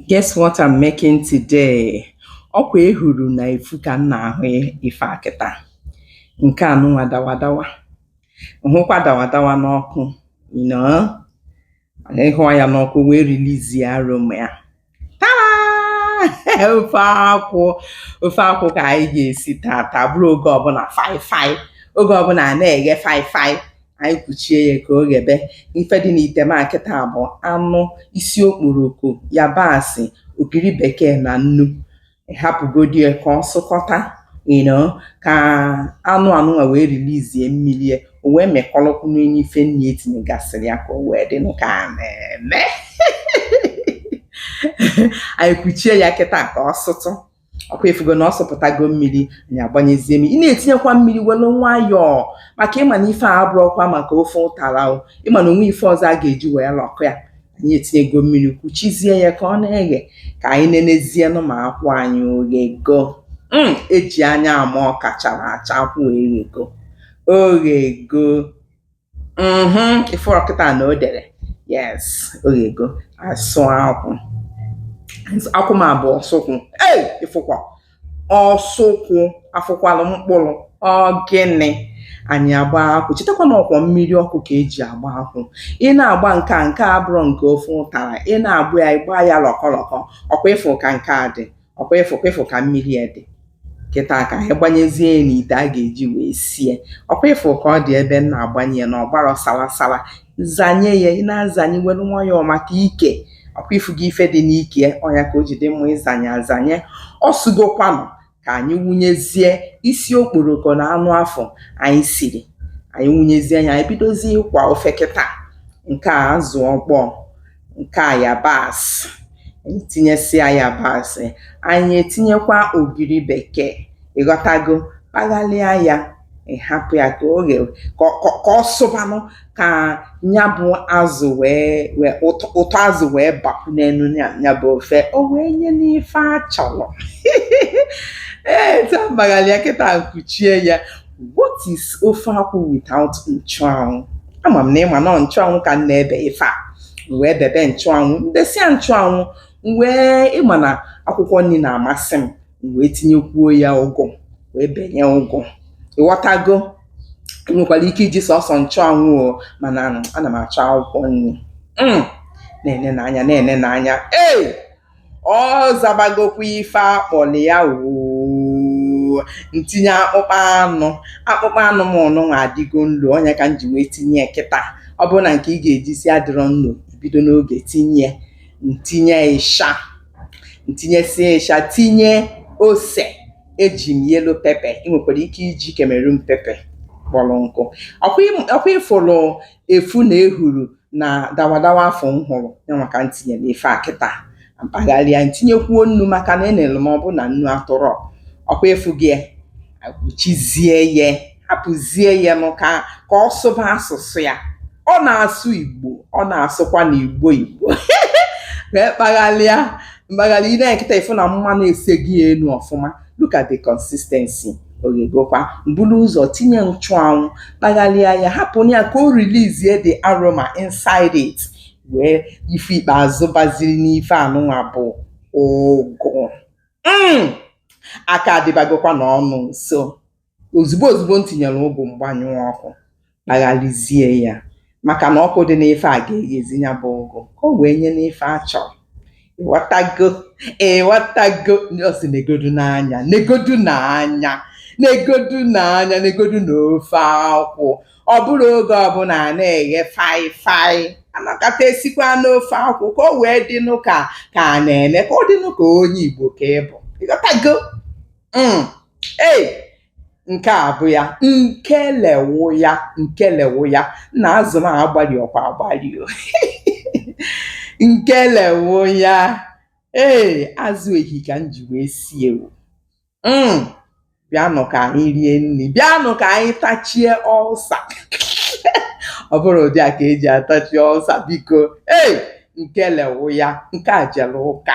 Guess what I'm making today? Ọkwa ehuru na efu ka m na-ahụ ife a kịta. Nke anụnwa dawadawa. M hụkwa dawadawa n'ọkụ, you know? Ị hụa ya n'ọkụ wee release aroma ya. Tada! Ofe akwụ. Ofe akwụ ka anyị ga-esi tata. Bụrụ oge ọbụla faịfaị. Oge ọbụla a na-eghe faịfaị. anyị kwuchie ya ka o ghebe ife dị n'ite m a kịta bụ anụ isi okporoko yabasị ogiri bekee na nnu hapụgodi ya ka ọ sụkọta you know, ka anụ anụnwa wee release mmiri ya o wee mekọrọkwụ n'enye ife nri etinyegasịrị ya ka o wee dị nụ ka a na-eme anyị kwuchie ya kịta ka ọ sụtụ ọkwa ịfụgo na ọ sụpụtago mmiri anyị agbanyezie mmiri ị na-etinyekwa mmiri welu nwayọọ maka ịma na ife a abụrọkwa maka ofe ụtara o ịma na o nwe ife ọzọ a ga-eji wee lọkọ ya anyị etinyego mmiri kwuchizie ya ka ọ na-eghe ka anyị nenezienụ ma akwụ anyị oghego mm, eji anya ama ọka chara acha akwụ eghego oghego Mm-hmm. Ịfụrọ kịta na o dere yes oghego asụ akwụ akwụ m a bụ ọsụkwụ ei ịfụkwa ọsụkwụ afụkwalụ mkpụrụ ọ gịnị anyị agba akwụ chetakwa na ọkwa mmiri ọkụ ka eji agba akwụ ị na-agba nke a nke a abụrọ nke ofe ụtara ị na-agba ya ịgba ya lọkọlọkọ ọkwa ịfụ ka nke a dị ọkwa ịfụ ịfụ ka mmiri ya dị kịta ka anyị gbanyezie ya n'ite a ga-eji wee sie ọkwa ịfụ ka ọ dị ebe m na-agbanye ya na ọgbara salasala zanye ya ị na-azanye welu nwayọọ maka ike ọkwa ịfụga ife dị n'ike ya ọ nya ka o ji dị mma ịzanye azanye ọ sụgokwanụ ka anyị wụnyezie isi okporoko na anụ afụ anyị siri anyị wụnyezie ya anyị bidozie ịkwa ofe kịta nke a azụ ọkpọọ nke a yabasị anyị tinyesịa yabasị anyị etinyekwa ogiri bekee ịghọtago kpaghalịa ya ị hapụ ya ka o ghe ka ọ sụbanụ ka nya bụ azụ wee wee ụtọ azụ wee bapụ n'enu nya bụ ofe o wee nyenụ ife a chọrọ ee taa m kpaghalịa kịta m kwuchie ya What is ofe akwụ without nchụanwụ? Ama m na ịma na ọ nchụanwụ ka m na-ebe ife a. M wee bebe nchụanwụ, m besịa nchụanwụ, m wee ịma na akwụkwọ nri na-amasị m, m wee tinyekwuo ya ụgụ, wee benye ụgụ. Ịghọtago? I nwekwara ike iji sọsọ nchụanwụ o, mana ana m achọ akwụkwọ nri. Mm. Na-enenụ anya, na-enenụ anya. Ee! Ọ zabagokwa ife a kpọrọ ya oo m tinye akpụkpọ anụ akpụkpọ anụ m nụnwa adịgo nlo ọ nya ka m ji wee tinye ya kịta ọ bụrụ na nke ị ga-eji si adịrọ nlo bido n'oge tinye m tinye ịsha m tinyesịa ịsha tinye ose eji m yellow pepper ị nwekwara ike iji Cameroon pepper kpọrọ nkụ ọkwa ị fụrụ efu na ehuru na dawadawa afụ m hụrụ yanwa ka m tinye n'ife a kịta m kpagharịa m tinyekwuo nnu maka na enere m ọ bụ na nnu atụrọ ọkwa ị fụgo kpuchizie ya hapụzie ya nụ ka ka ọ sụba asụsụ ya ọ na-asụ igbo ọ na-asụkwa na igbo igbo wee kpagharịa m kpagharịa i nee kịta ị fụ na mmanụ esego elu ọfụma look at the consistency o ghegokwa m bulu ụzọ tinye nchụanwụ kpagharịa ya hapụ ya ka o release the aroma inside it wee ife ikpeazụ baziri n'ife anụnwa bụ ụgụ mm! aka adịbagokwa n'ọnụ nso ozugbo ozugbo m tinyere ụgụ m gbanyụọ ọkụ kpaghalizie ya maka na ọkụ dị n'ife a ga-eghezi ya bụ ụgụ ka o wee nyenụ ife a chọrọ ị ghọtago ị ghọtago ọ sị negodunụ anya negodunụ anya negodunụ anya negodunụ ofe akwụ ọ bụrọ oge ọbụla a na-eghe fry fry a nọkata e sikwanụ ofe akwụ ka o wee dịnụ ka ka a na-eme ka ọ dịnụ ka onye Igbo ka ị bụ ị ghọtago Mm. ei nke a bụ ya nke le wụ ya nke le wụ ya nna azụ m agbalị ọkwa agbalị o nke le wụ ya ee azụ ehi ka m ji wee sie o mm. bịanụ ka anyị rie nri bịanụ ka anyị tachie ulcer ọ bụrụ ụdị a ka e ji atachi ulcer biko ee nke le wụ ya nke a jere ụka